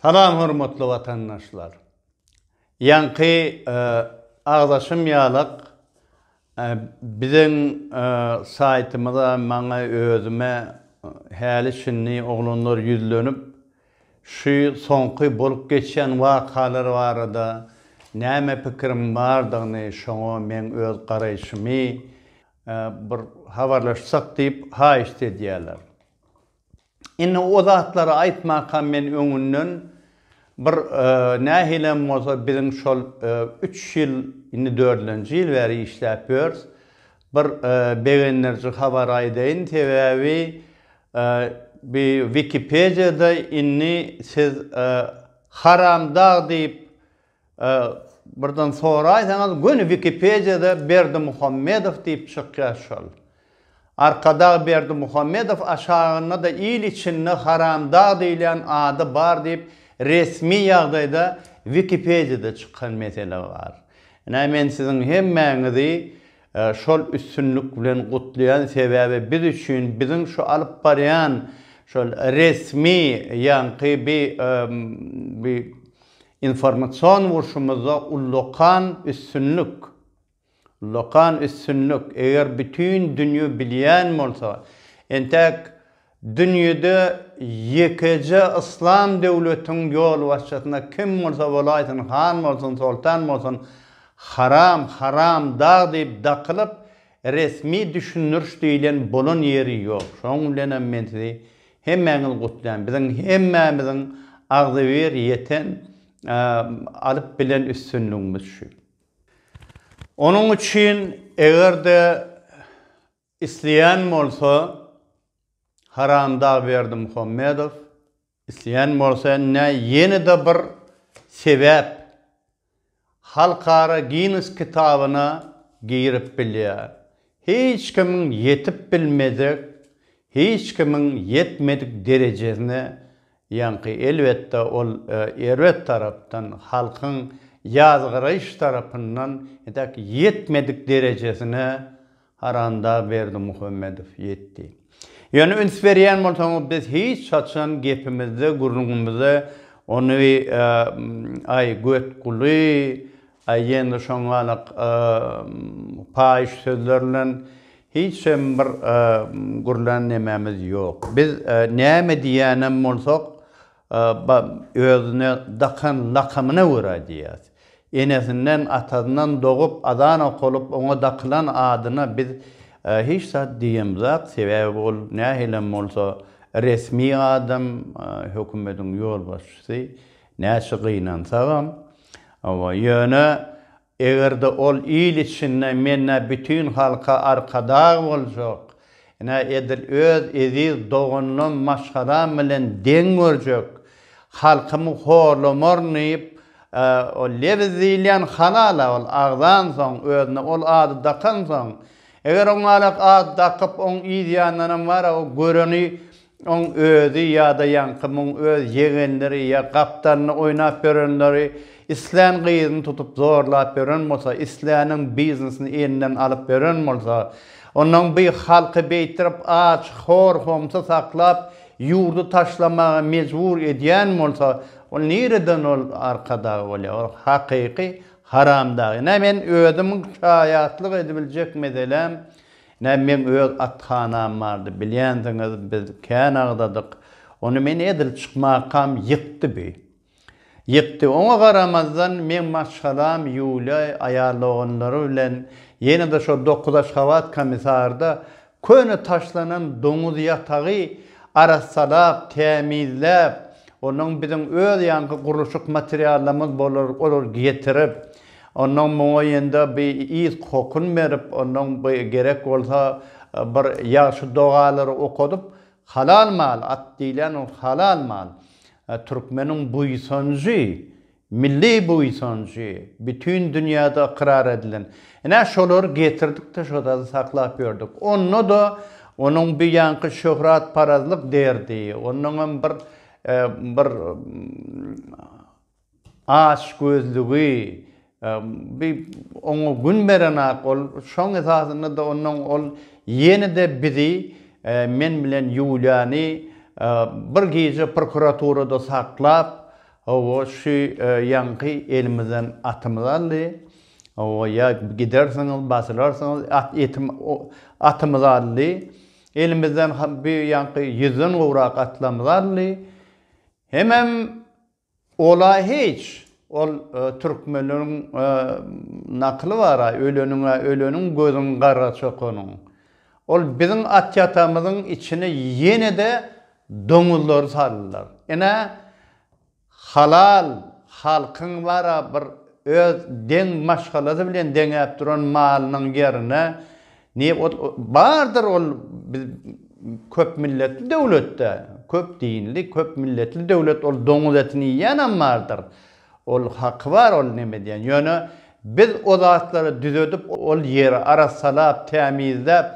Salam hormatly watandaşlar. Ýaňky agzaşym ýalak Biziň saýtymyza maňa özüme häli şindi oglanlar ýüzlenip şu soňky bolup geçýän wakalar barada näme pikiriň bardygyny şoňa meň öz garaýşymy bir habarlaşsak diýip haýyşt edýärler. Indi o zatlary aýtmaka men öňünden bir nähilem bolsa biziň şol üç ýyl, indi dördünji ýyl bäri işläp ýörs. Bir begendiriji habar aýdaýyn, sebäbi bi Wikipediýada indi siz Haramdag diýip Birden soraýsaňyz göni wikipediýada Berdimuhamedow diýip çykýar şol. Arkadag Berdimuhamedow aşagynda-da il içinde Haramdag diýilýän ady bar diýip resmi ýagdaýda wikipediýada çykan mesele bar. Ine men siziň hemmäňizi şol üstünlik bilen gutlaýan sebäbi biz üçin biziň şu alyp barýan şol resmi ýaňky bi bi Informasion urşumyzda ullakan üstünlik! Ullakan üstünlik! Eger bütin dünýe bilýän bolsa, entäk dünýede ýekeje yslam döwletiň ýolbaşçysyna kim bolsa bolaýsyn, han bolsun, soltan bolsun, haram, haram dag diýip dakylyp, resmi düşündiriş diýlen bolan ýeri ýok. Şonuň bilenem men sizi Hemmäňizi gutlaýan biziň hemmämiziň agzybir ýeten alyp bilen üstünligimiz şu. Onuň üçin egerde isleýän bolsa Haramdagberdi Muhammedow isleýän bolsa indi ýenede bir sebäp Halkara Ginnes kitabyna girip bilýär. Hiç kimiň ýetip bilmejek, hiç kimiň ýetmedik derejesine ýaňky elbetde ol erbet tarapdan halkyň ýazgaraýyş tarapyndan ýetmedik derejesine Haranda Berdimuhamedow ýetdi. Ýöne üns berýän bolsaňyz biz hiç haçan gepimizde gürrüňimize ony aý götguly aý ýene şoňalak paýyş sözler bilen hiçem bir gürlän nemämiz ýok. Biz näme diýýänem bolsak Özüne dakan lakamyna görä diýýär. Enesinden, atasyndan dogup, azan okalyp, oňa dakylan adyna biz hiç zat diýemzok, sebäbi ol nähilem bolsa resmi adam, hökümetiň ýolbaşçysy, näçe gynansagam. Ýöne Eger-de ol il içinde men-ä bütin halka arkadag boljak, ine, edil öz eziz doganlam, maşgalam bilen deň görjek, halkymy horlamaryn diýip, ol lebiz diýilýän halal-a, ol agzansoň, özüne ol ady dakansoň, eger oňalak at dakyp, oň yzýandanam bar-a, o göreni Oň özi ýa-da ýaňky muň öz ýegenleri ýa gapdalynda oýnap ýörenleri islän gyzyny tutup zorlap ýören bolsa, isläniň biznesini elinden alyp ýören bolsa, onnoň bi halky beýtdirip aç, hor, homsy saklap, ýurdy taşlamaga mejbur edýän bolsa, ol nireden ol arkadag bolýar? Ol hakyky haramdag. Ine men özümiň şaýatlyk edibiljek meseläm, Nä meň öz athanam bardy, bilýänsiňiz, biz kän agzadyk. Ony men edil çykmakam ýykdy bi. Ýykdy. Oňa garamazdan, meň maşgalam Ýuliýa aýal-oganlary bilen ýene-de şo dokuz Aşgabat komissarda köne taşlanan doňuz ýatagy arassalap, tämizläp, onuň biziň öz ýaňky gurluşyk materiallarymyz bolar, olary getirip, Onnoň muňa ýende bi yz kokun berip, onnoň bi gerek bolsa bir ýagşy dogalary okadyp, halal mal, at diýlen ol halal mal. Türkmeniň buýsanjy, milli buýsanjy, bütin dünýäde ykrar edilen. Ine, şolary getirdik-de şo zady saklap ýördük. Onda-da onuň bi ýaňky şöhratparazlyk derdi, onnoň hem bir, bir Açgözlügi, bi oňa gün berenak ol, şoň esasynda-da onnoň ol ýene-de bizi, men bilen Ýuliýany bir gije prokuraturada saklap, hawa, şu ýaňky elimizden atymyzy aldy, hawa, ýa gidersiňiz, basylarsyňyz, at, etim, atymyzy aldy, elimizden ha, bu ýaňky ýüzden gowrak atlarymyzy aldy, hemem Ola hiç, ol türkmenleriň nakyly bar-a, Öleniňe öleniň gözüň gara çökeniň. Ol biziň atýatamyzyň içine ýene-de doňuzlary saldylar. Ine, halal halkyň bar-a bir öz deň maşgalasy bilen deňäp duran malynyň ýerine Ne ol bardyr ol biz köp milletli döwletde köp dinli köp milletli döwlet ol doňuz etini iýýänam bardyr ol haky bar ol neme diýen ýöne biz o zatlary düzedip ol ýeri arassalap tämizläp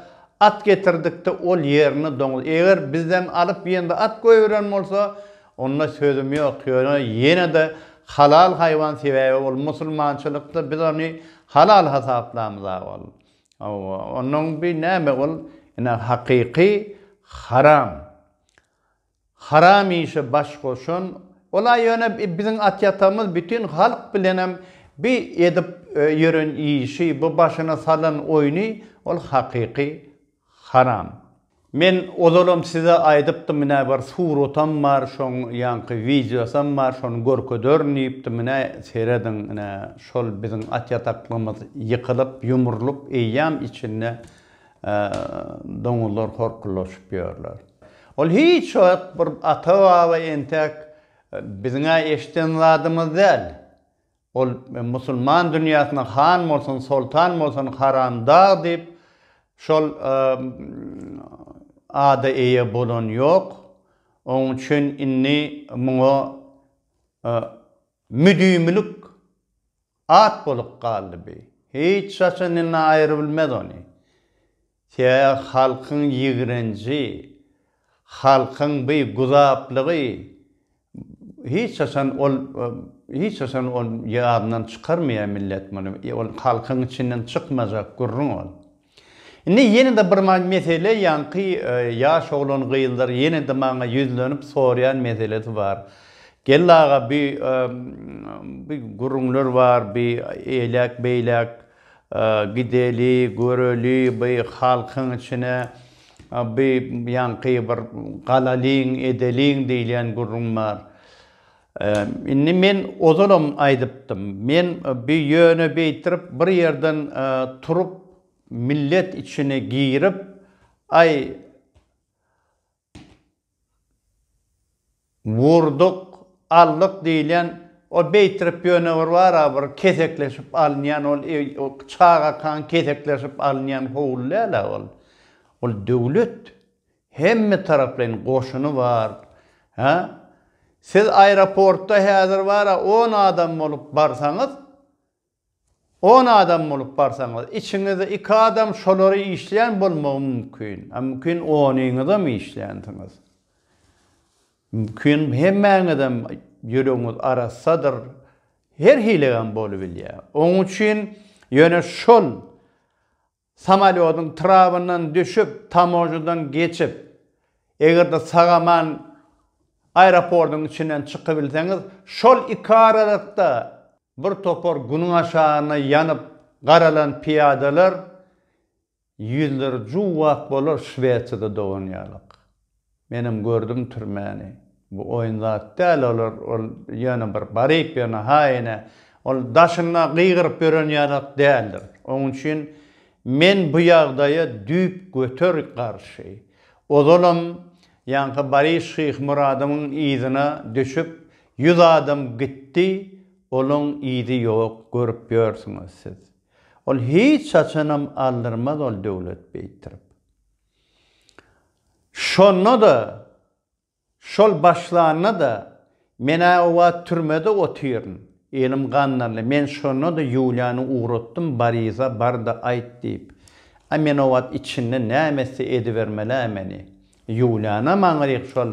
at getirdikde ol ýerini doňuz eger bizden alyp ýende at goýberen bolsa onda sözüm ýok ýöne ýenede halal haýwan sebäbi ol musulmançylykda biz ony halal hasaplamyz a ol Hawa, onuň bi näme ol, ine, hakyky haram. Haram işe baş goşan, ol-a ýöne biziň at-ýatamyz bütin halk bilenem bi edip ýören işi, bu başyna salan oýny, ol hakyky haram. Men ozalam size aýdypdym nä bir suratam bar şoň ýaňky wideosam bar şony görkederin diýipdim nä serediň nä şol biziň at ýataklygymyz ýykylyp ýumrulyp eýýam içinde doňuzlar horkuldaşyp ýörler ol hiç wagt bir ata baba entäk biziňä eşden zadymyz däl Ol musulman dünýäsine han bolsun, soltan bolsun Haram dag diýip şol ada eýe bolan ýok. Onuň üçin indi muňa müdimilik at bolup galdy bi. Hiç haçan indi aýrybilmez ony. Tä halkyň ýigrenji, halkyň bi guzaplygy hiç haçan ol hiç haçan ol ýadyndan çykarmaýar millet muny. Ol halkyň içinden çykmajak gürrüň ol. Indi ýene-de bir mesele ýaňky ýaş oglan gyzlar ýene-de maňa ýüzlenip soraýan meselesi bar. Geldi aga bi bi gürrüňler bar bi eýläk beýläk Gideli, göreli, bu halkyň içine bu ýaňky bir galalyň, edeliň diýilýän gürrüň bar. Indi men ozalam aýdypdym. Men bu ýöne beýtirip bir ýerden turup millet içine girip, aý, Wurduk, aldyk diýilýän o beýtirip ýöne bir bara bir kesekleşip alynýan ol çagakaň kesekleşip alynýan howul däl-ä ol. Ol döwlet. Hemme taraplaýyn goşuny bar. Hä? Siz aeroportda häzir bara on adam bolup barsaňyz, On adam bolup barsaňyz, içiňizde iki adam şolary işleýän bolmagy mümkin. A mümkin onyňyzam işlänsiňiz. Mümkin hemmäňizem ýüregiňiz arassadyr. Her hilegem bolubilýär. Oň üçin ýöne şol Samolýodyň trabyndan düşüp, tamožnadan geçip, eger-de sag-aman aeroportyň içinden çykybilseňiz, şol iki aralykda bir topar günüň aşagyna ýanyp garalan pyýadalar ýüzleri juwwak bolar Şwesiýada doganýarlyk. Menem gördüm türmäni. Bu oýun zat däl olar ol ýöne bir baryp ýöne haýyne ol daşynda gygyryp ýören ýalat däldir. Oň üçin men bu ýagdaýa düýp göter garşy. Ozalam ýaňky Baris Şyhmyradowyň yzyna düşüp ýüz adam gitdi olaň yzy ýok görüp ýörsüňiz siz. Ol hiç haçanam aldyrmaz ol döwlet beýtdirip. Şonda-da, şol başlanda-da, men-ä o wagt türmede otyryn. Elim gandanly. Men şonda-da Ýuliýany ugratdym, Boriza, bar-da, aýt diýip. A men o wagt içinde näme etse edibermeli-ä meni. Ýuliýanam aňryk şol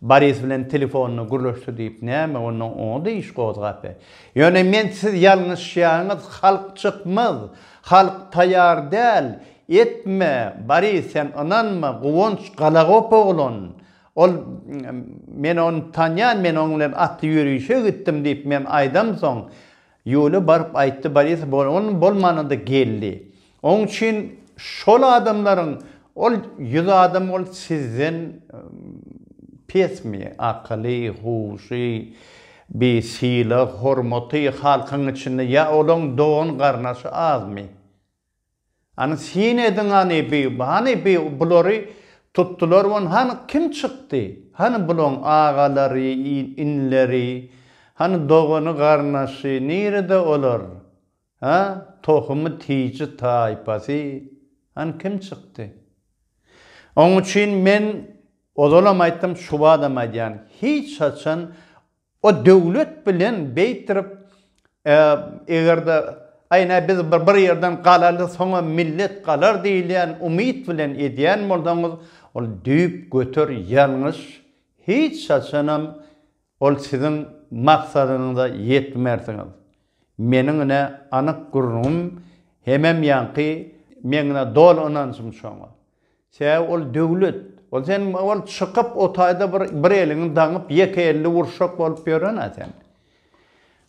Boris bilen telefonda gürleşdi diýip näme onda onda iş gozgapy. Ýöne men siz ýalňyşýaňyz halk çykmaz halk taýar däl etme Boris sen ynanma Guwanç galagop oglan ol men ony tanýan men oň bilen atly ýörişe gitdim diýip men aýdamsoň Ýuliýa baryp aýtdy, Boris bolgun bolmanda-da geldi. Oň üçin şol adamlaryň, ol ýüz adam ol sizden pesmi? Akyly, huşy, bi sylag, hormaty halkyň içinde ýa olaň dogan-garnaşy azmy? Hany syn ediň hany bi hany bi bulary tutdular won hany kim çykdy hany bulaň agalary inleri hany dogany garnaşy nirede olar ha tohumy tiji taýpasy hany kim çykdy oň üçin men ozalam aýtdym şubadam aýdýan hiç haçan O döwlet bilen beýtirip eger-de aý näme biz bir ýerden galaly soňam millet galar diýilýän umyt bilen edýän bolsaňyz ol düýp göter ýalňyş hiç haçanam ol siziň maksadyňyza ýetmersiňiz. Meniň ine anyk gürrüňim hemem ýaňky meňňe doly ynanjym şoňa. Sebäbi ol döwlet. Ol sen ol çykyp o taýda bir bir eliňi daňyp ýeke elli urşak bolup ýören-ä sen.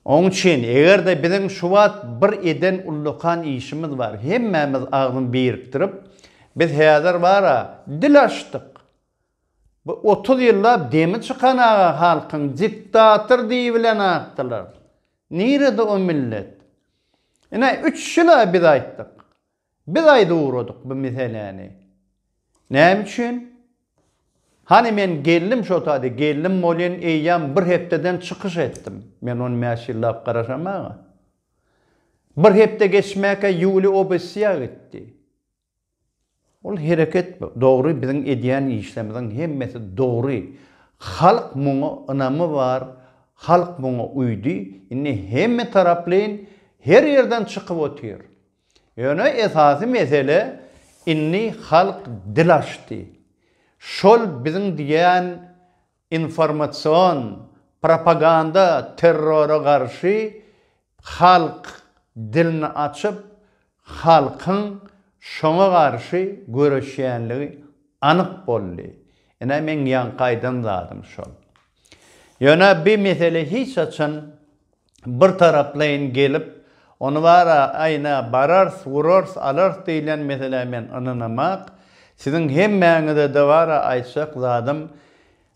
Oň üçin eger-de biziň şu wagt bir eden ullakan işimiz bar. Hemmämiz agzyny birikdirip biz häzir bar-a dil açdyk. Bu otuz ýyllap demi çykan aga halkyň diktator diýibilen atdylar. Nirede o millet? Ine üç ýyl-a biz aýtdyk. Biz aýdyp ugradyk bu meseläni. Näme üçin? Hany men geldim şo taýda, geldim bolýan eýýäm bir hepdeden çykyş etdim. Men on bäş ýyllap garaşamaga. Bir hepde geçmäkä Ýuliý obesýa gitdi. Ol hereket dogry, biziň edýän işlerimiziň hemmesi dogry. Halk muňa ynamy bar, halk muňa uýdy. Indi hemmetaraplaýyn her ýerden çykyp otyr. Ýöne esasy mesele indi halk dil açdy. Şol biziň diýen informasion, propaganda terrora garşy halk dilini açyp, halkyň şoňa garşy göreşýänligi anyk boldy. Ine meň ýaňky aýdan zadym şol. Ýöne bi mesele hiç haçan bir taraplaýyn gelip, ony bar-a, aýna, barars, urars, alars diýilýän meselä men ynanamak, siziň hemmäňize-de bar-a aýtjak zadym,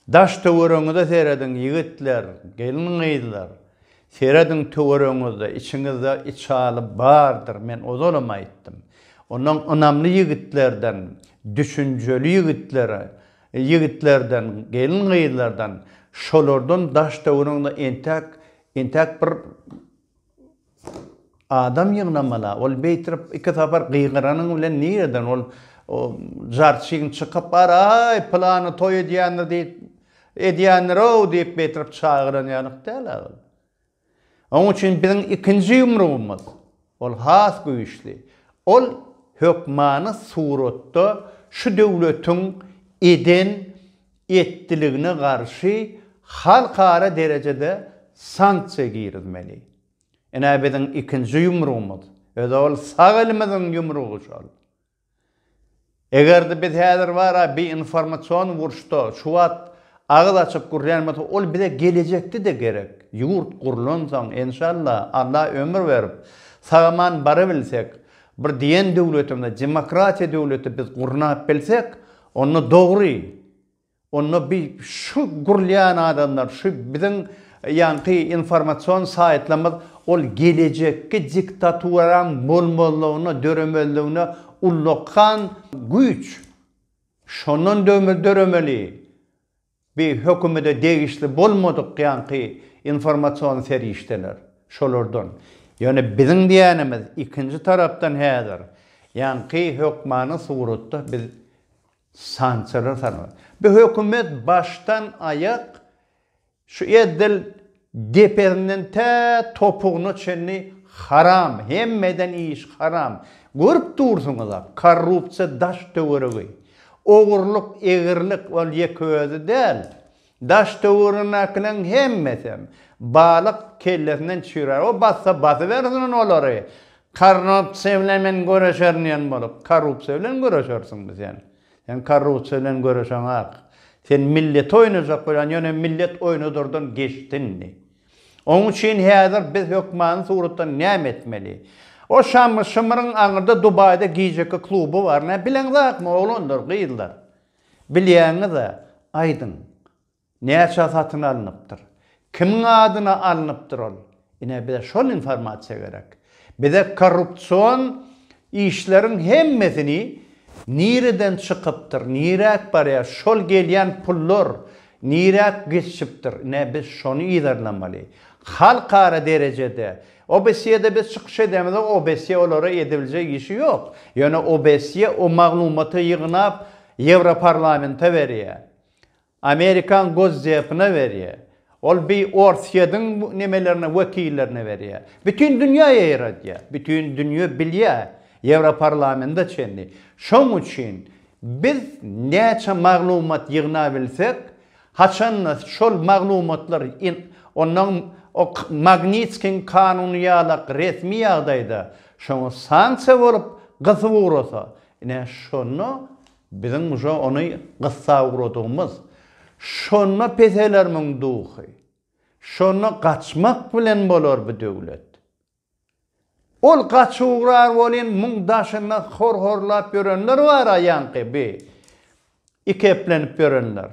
daş-töweregiňize serediň, ýigitler, gelin-gyzlar, serediň töweregiňizde, içiňizde içaly bardyr, men ozalam aýtdym. Ondan ynamly ýigitlerden, düşünjeli ýigitleri Ýigitlerden, gelin-gyzlardan, şolardan daş-töweregiňde entäk, entäk bir adam ýygnamala. Ol beýtirip iki sapar gygyranyň bilen nireden ol žarçyň çykyp bar, Aý, pylany toý edýändir diýip, edýändir-ow diýip beýtirip çagyran ýalyk däl-ä ol. Onuň üçin biziň ikinji ýumrugymyz, ol has güýçli, ol hökmany suratda şu döwletiň eden, etdiligine garşy halkara derejede sanksiýa girizmeli. Ine biziň ikinji ýumrugymyz, özü ol sag elimiziň ýumrugy şol. Eger-de biz häzir bara bi informasion uruşda şu wagt agyz açyp gürlän bolsak, ol bize gelejekde-de gerek. Ýurt gurlansoň, enşalla, Alla ömür berip, sag-aman barybilsek, bir diýen döwletimizi, demokratiýa döwleti biz gurnap bilsek, onda dogry, Onda bi şu gurulýan adamlar, şu biziň ýaňky informasion saýtlarymyz ol gelejekki diktaturaň bolmazlygyna, döremezligine ullakan güýç. Şondan döremeli bi hökümede degişli bolmadyk ýaňky informasion serişdeler, şolardan. Ýöne biziň diýenimiz ikinji tarapdan häzir ýaňky hökmany suratda biz Sançylar sanawy. Bu hökümet başdan aýak şu edil depesinden tä topugyna çenli haram, hemmeden iş haram. Görüp dursuňyza korrupsiýa daş töweregi. Ogurlyk, egrilik ol ýeke özi däl. Daş-töweregindäkileriň hemmesem, balyk kellesinden çüýrär. O bassa basybersin ony olary. Korrupsiýa bilen men göreşerin diýen bolup, korrupsiýa bilen göreşersiňmi sen? Sen korrupsiýa bilen göreşeňak. Sen milleti oýnajak bolýan, ýöne millet oýnadardan geçdi indi. Oň üçin häzir biz hökmany suratda näme etmeli? O Şamyr-şymyryň aňyrda Dubaýda gijeki kluby bar. Näbileňzakmy, oglanlar, gyzlar? Bilýäňiz-ä, aýdyň, näçä satyn alnypdyr? Kimiň adyna alnypdyr ol? Ine, bize şol informasiýa gerek. Bize korrupsion işleriň hemmesini nireden çykypdyr, niräk barýar, şol gelýän pullar niräk gizçipdir, ine, biz şony yzarlamaly. Halkara derejede OBSYE-de biz çykyş edemizok, OBSYE olara edebiljek işi ýok. Ýöne OBSYE o maglumaty ýygnap Ýewroparlamenta berýär. Amerikan Gozdepine berýär. Ol bi Orsýediň nemelerine, wekillerine berýär. Bütin dünýä ýaýradýar. Bütin dünýe bilýär, Ýewroparlamenta çenli. Şoň üçin biz näçe maglumat ýygnabilsek, Haçanda şol maglumatlar onnoň ok Magnitskiň kanuny ýalak resmi ýagdaýda şoňa sanksiýa bolup gysyp ugrasa, ine şonda biziň uje ony gyssap ugradygymyz, şonda pehelermiň duhy, şonda gaçmak bilen bolar bu döwlet. Ol gaçugrar bolyn muň daşynda hor horlap ýörenler bara ýaňky bi ikeplenip ýörenler.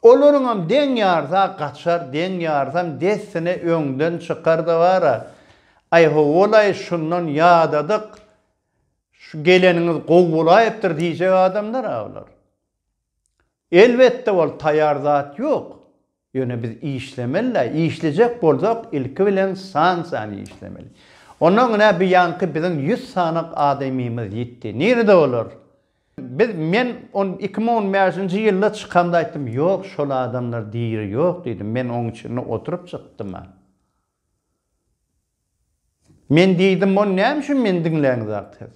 Olaryňam deň ýarsa gaçar deň ýarsam dessine öňden çykarda bara aý howwalaý şundan ýadadyk şu geleniňiz gowy bolaýypdyr diýjek adamdara bular. Elbetde ol taýar zat ýok. Ýöne biz işlemeli-dä, işlejek bolsak ilki bilen san sany işlemeli. Onnoň ine bu ýanky biziň ýüz sanak adamymyz ýitdi. Nirede olar? Biz men on iki müň on bäşinji ýylda çykamda aýtdym, ýok şol adamlar diri ýok diýdim. Men oň içinde oturyp çykdym-a. Men diýdim, ony näme üçin meni diňläňzak siz?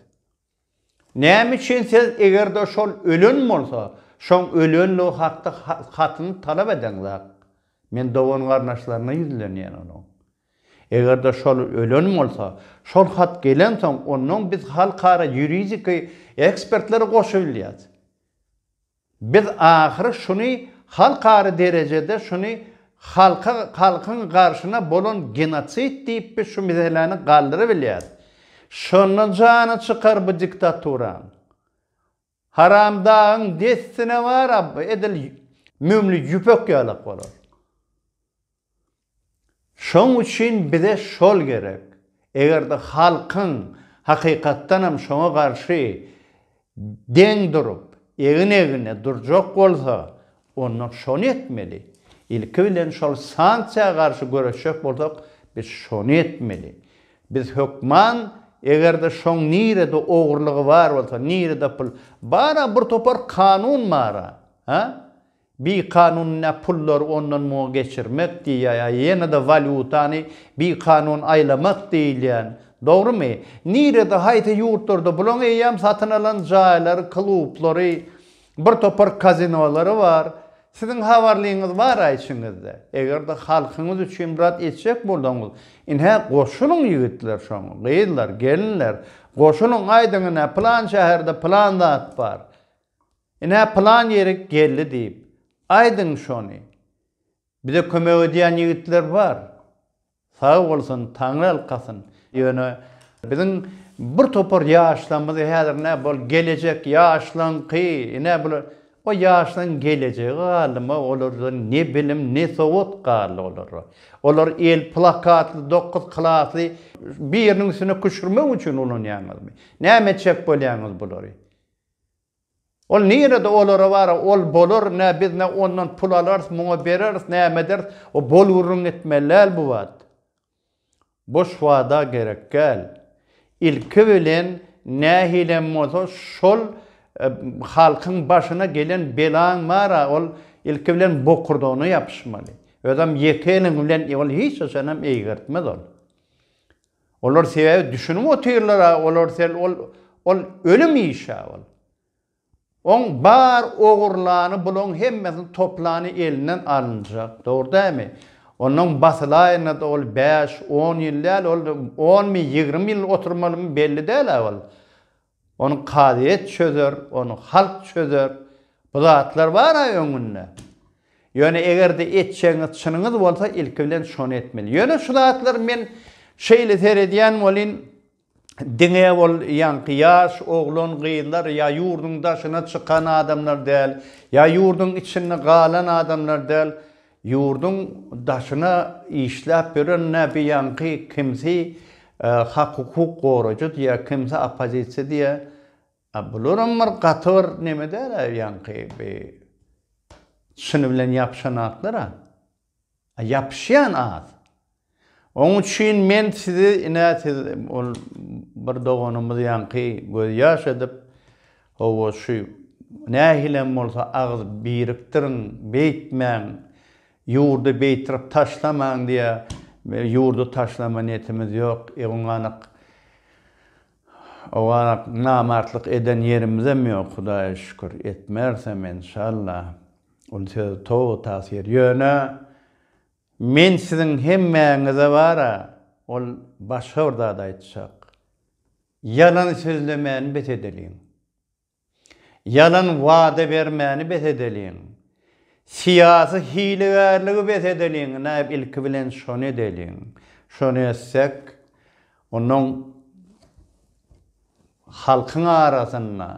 Näme üçin siz eger-de şol ölen bolsa, şoň ölenligi hakda hatyny talap edeňzak? Men dogan-garyndaşlaryna ýüzlenýän onuň. Eger-de şol ölen bolsa, şol hat gelensoň, onnoň biz halkara ýuridiki ekspertleri goşubilýäs. Biz ahyry şuny halkara derejede şuny halka halkyň garşyna bolan genosid diýip biz şu miseläni galdyrabilýäs. Şonda jany çykar bu diktaturaň. Haramdagyň dessine bar a edil mömli ýüpek ýalak bolar. Şoň üçin bize şol gerek. Eger-de halkyň hakykatdanam şoňa garşy deň durup, egin-egne durjak bolsa, onda şony etmeli. Ilki bilen şol sanksiýa garşy göreşjek bolsak, biz şony etmeli. Biz hökman eger-de şoň nirede ogurlygy bar bolsa, nirede pul, bar-a bir topar kanun bar-a, ha? Bikanun-a pullary ondan muňa geçirmek diýýär, ýene-de walýutany bikanun aýlamak diýilýän. Dogrumy? Nirede, haýsy ýurtlarda bulaň eýýäm satyn alan jaýlary, klublary, bir topar kazinolary bar. Siziň habarlyňyz bar-a içiňizde. Eger-de halkyňyz üçin bir zat etjek bolsaňyz, ine, goşulyň ýigitler şoňa, gyzlar, gelinler, goşulyň, aýdyň, ine, pylan şäherde pylan zat bar. Ine, pylan ýeri geldi diýip, aýdyň şony. Bize kömek edýän ýigitler bar. Sag bolsun, taňryalkasyn. Ýöne biziň bir topar ýaşlarymyzy häzir nä bol gelejek ýaşlaňky, ine bular, o ýaşlaň gelejegi galdymy, olarda ne bilim, ne sowat galdy olarda. Olar el plakatly dokuz klasly biriniň üstüne küşürmek üçin ulanýaňyzmy? Näme etjek bolýaňyz bulary? Ol nirede olara bara ol bolar nä biz nä ondan pul alarys muňa bereris näme ederis o bol gürrüň etmeli däl bu wad boş wada gerek gäl ilki bilen nähilem bolsa şol halkyň başyna gelen belaň bara ol ilki bilen bokurdagyna ýapyşmaly özem ýeke eliň bilen ol hiç haçanam eýgertmez ol. Olar sebäbi düşünip otyrlara olar sen ol ol ölüm işa ol. Oň bar ogurlany bulaň hemmesini toplany elinden alynjak dogry dämi? Ondan basylaýyna da ol bäş on ýyl däl ol on mi ýigrimi ýyl oturmalymy belli däl a ol. Ony kazyýet çözer, ony halk çözer. Bu zatlar bar-a öňünde. Ýöne eger-de etjegiňiz çynyňyz bolsa, ilki bilen şony etmeli. Ýöne şu zatlary men şeýle seredýän welin, diňe ol ýaňky ýaş oglan-gyzlar ýa ýurduň daşyna çykan adamlar däl, ýa ýurduň içinde galan adamlar däl, Ýurduň daşyna işläp ýören näbeýanky kimsi hak-hukuk goraýjy diýýär, kimsi oppozisiýa diýýär. A bularam bir gaty bir neme däl-ä ýaňky bi çyny bilen ýapyşan atlar-a. A ýapyşýan az. Oň üçin men sizi, ine, siz, ol bir doganymyz ýaňky gözýaş edip, Hawa, şu nähilem bolsa agyz birikdiriň, beýtmäň, ýurdy beýtirip taşlamaň diýýär. Ýurdy taşlama niýetimiz ýok. Ewňanak, owganak namartlyk eden ýerimizem ýok, Hudaýa şükür, etmersem, enşalla. Ol söz toba tasyr. Ýöne Men siziň hemmäňize bar-a, ol başga bir zat aýtjak. Ýalan sözlemäni bes edeliň. Ýalan wada bermäni bes edeliň. Syýasy hilegärligi bes edeliň. Näb ilki bilen şony edeliň. Şony etsek, onuň halkyň arasynda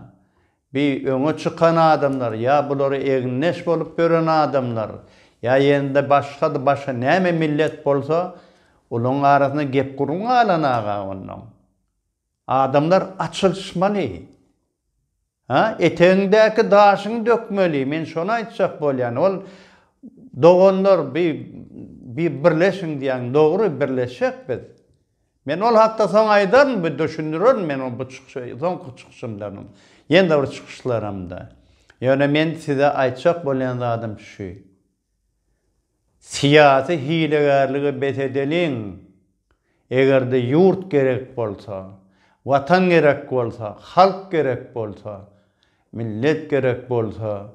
Bi öňe çykan adamlar ýa bulara egindeş bolup ýören adamlar, ýa ýende başgady başga näme millet bolsa, olaryň arasynda gep gürrüň galan aga onnoň. Adamlar açylyşmaly. Ha, etegiňdäki daşyňy dökmeli, men şony aýtjak bolýan. Ol doganlar bi bi birleşiň diýýäň, dogry birleşjek biz. Men ol hakda soň aýdaryn, bu düşündirerin men ony bu çykyşy soňky çykyşymdanam, ýene-de bir çykyşlaramda. Ýöne men size aýtjak bolýan zadym şu. Syýasy hilegärligi bes edeliň. Eger-de ýurt gerek bolsa, Watan gerek bolsa, halk gerek bolsa, millet gerek bolsa,